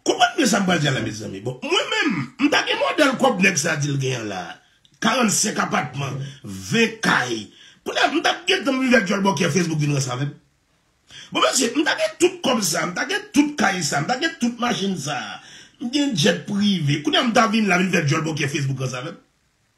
Konprann byen sa m pral di a la mezanmi. Bon, mwen menm, m ta gen modèl kòb nèg sa di l gen an la a. 45 apatman, 20 kay. Kounye a, m t ap gentan rive ak djòlbòkyè Facebook vin ranse avè m. Bon mesye, m ta gen tout kòb sa a, m ta gen tout kay sa a, m ta gen tout machin sa a, m gen djèt prive. Kounye a, m ta vin la vin fè djòlbòkyè Facebook ranse avè m.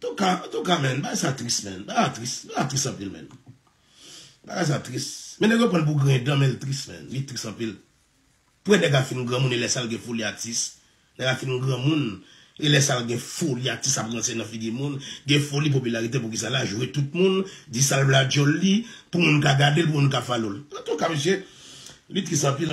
Antouka, antouka menn, bagay sa tris menn, bagay la tris, bagay la tris anpil menn. Bagay sa tris, men nèg yo pran l pou griyen dan men l tris menn, li tris anpil. Pou yon nèg ap fin granmoun e lè sa l gen foli atis, nèg ap fin granmoun e lè sa l gen foli atis ap ranse nan figi moun, gen foli popilarite poukisa la jwe tout moun, di sa l vle ak djòl li, pou moun ka gade l, pou moun ka falo l. Antouka mesye, li tris anpil.